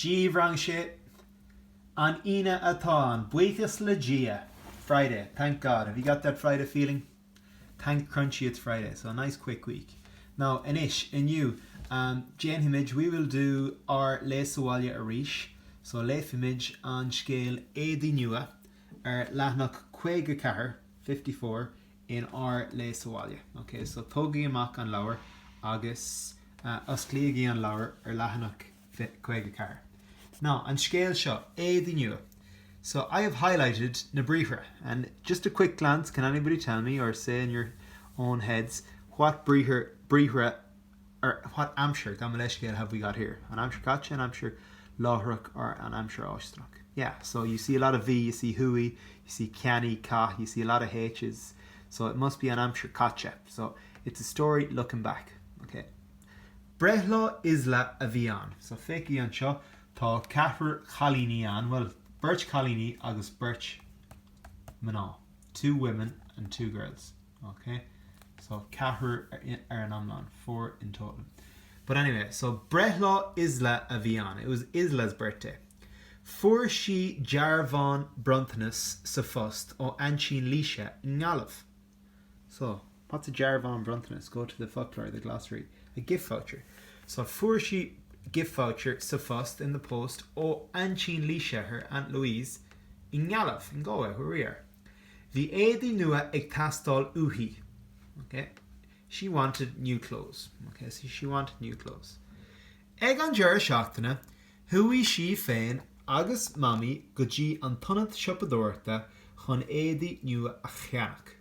A Rang 6, An Aoine atá ann, buíochas le Dia! Friday, Thank God! Have you got that Friday feeling? Thank Crunchy it's Friday! So a nice quick week. Now, Anois, inniu, déanfaimid, we will do, ár Léigh sa Bhaile arís. So léifimid an scéal Éadaí Nua ar leathanach caoga ceathair, fifty four, in ár Léigh sa Bhaile. Ok, so tógaigí amach an leabhar agus osclaígí an leabhar ar leathanach 54. Now, an scéal seo, éadaí nua. So, I have highlighted na briathra and just a quick glance, can anybody tell me or say in your own heads what briathra or what aimsir, gabh mo leithscéal, have we got here? an aimsir chaite, an aimsir láithreach or an aimsir fháisteanach? Yeah, so you see a lot of bhí, you see chuaigh, you see cheannaigh, chaith, you see a lot of h's so it must be an aimsir chaite so it's a story looking back, ok? Breithlá Isla a bhí ann. So féachaigí anseo, tá ceathrar cailíní ann, bhuel, beirt chailíní agus beirt mná, two women and two girls. Ok, so ceathrar ar an iomlán, four in total. But anyway, so breithlá Isla a bhí ann, it was Isla's birthday. Fuair sí dearbhán bronntanas sa phost ó aintín Laoise i nGaillimh. So, what's a dearbhán bronntanas? Go to the foclóir, the glossary. A gift voucher. So, fuair sí gift voucher sa phost, in the post, ó aintín Laoise, her aunt Louise, i nGaillimh, in Galway, where we are. Bhí éadaí nua ag teastáil uaithi. She wanted new clothes. She wanted new clothes. Ag an deireadh seachtaine, chuaigh sí féin agus Mamaí go dtí an t-ionad siopadóireachta chun éadaí nua a cheannach.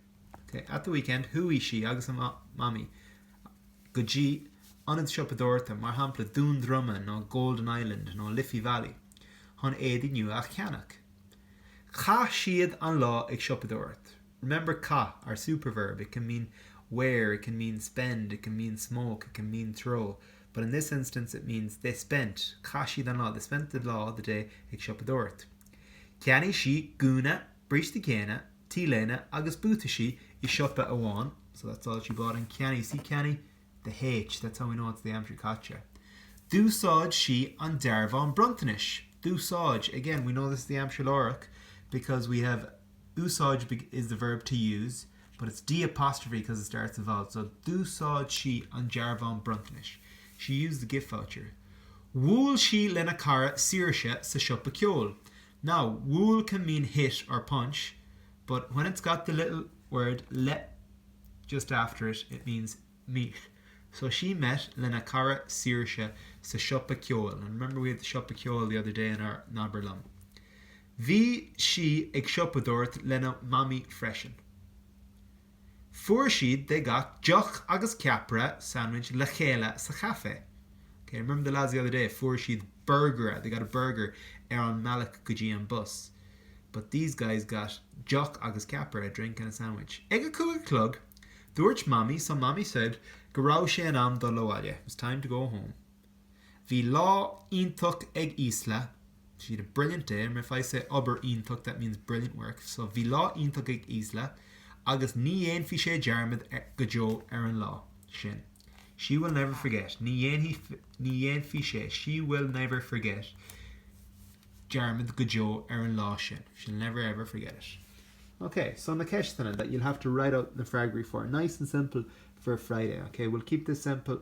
At the weekend, chuaigh sí agus Mamaí go dtí ionad siopadóireachta, mar shampla Dún Droma nó Golden Island nó Liffey Valley, chun éadaí nua a cheannach. Chaith siad an lá ag siopadóireacht. Remember caith, our superverb, it can mean wear, it can mean spend, it can mean smoke, it can mean throw, but in this instance it means they spent chaith siad an lá, they spent the lá, the day, ag siopadóireacht. Cheannaigh sí gúna, bríste géine, t-léine agus buataisí i siopa amháin, so that's all she bought. And cheannaigh, see cheannaigh? The H, that's how we know it's the Aimsir Chaite. D'úsáid sí an dearbhán bronntanais. D'úsáid, again, we know this is the Aimsir Láithreach because we have úsáid is the verb to use but it's D apostrophe because it starts with vowel, so D'úsáid sí an dearbhán bronntanais. She used the gift voucher. Bhuail sí lena cara Saoirse sa siopa ceoil. Now, wool can mean hit or punch, but when it's got the little word le just after it, it means meet. So she met lena cara Saoirse sa siopa ceoil, and remember we had the siopa ceoil the other day in our n-abair liom. Bhí sí ag siopadóireacht lena mamaí freisin. Fuair siad they got deoch agus ceapaire sandwich le chéile sa chaife. Ok, remember the lads the other day fuair siad burgaire they got a burger ar an mbealach go dtí an bus but these guys got deoch agus ceapaire a drink and a sandwich. Ag a cúig a chlog, dúirt Mamaí so Mamaí said go raibh sé in am dul abhaile it was time to go home. Bhí lá iontach ag Isla, she had a brilliant day, I mean if I say obair iontach that means brilliant work, so bhí lá iontach ag Isla agus ní dhéanfaidh sé dearmad go deo ar an lá sin she will never forget ní dhéanfaidh sé she will never forget dearmad go deo ar an lá sin she'll never ever forget it ok so na ceisteanna that you'll have to write out na freagraí for nice and simple for Friday ok we'll keep this simple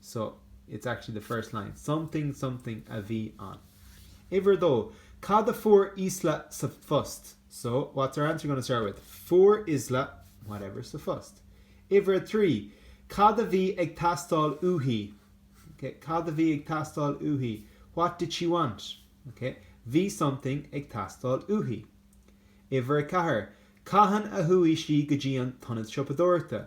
so it's actually the first line, something something a bhí ann. Uimhir a dó, Cad a fuair Isla sa phost? So, what's our answer going to start with? Fuair Isla whatever sa phost. Uimhir a trí, Cad a bhí ag teastáil uaithi? Okay, cad a bhí ag teastáil uaithi? What did she want? Okay, Bhí something ag teastáil uaithi. Uimhir a ceathair, Cathain a chuaigh sí go dtí an t-ionad siopadóireachta?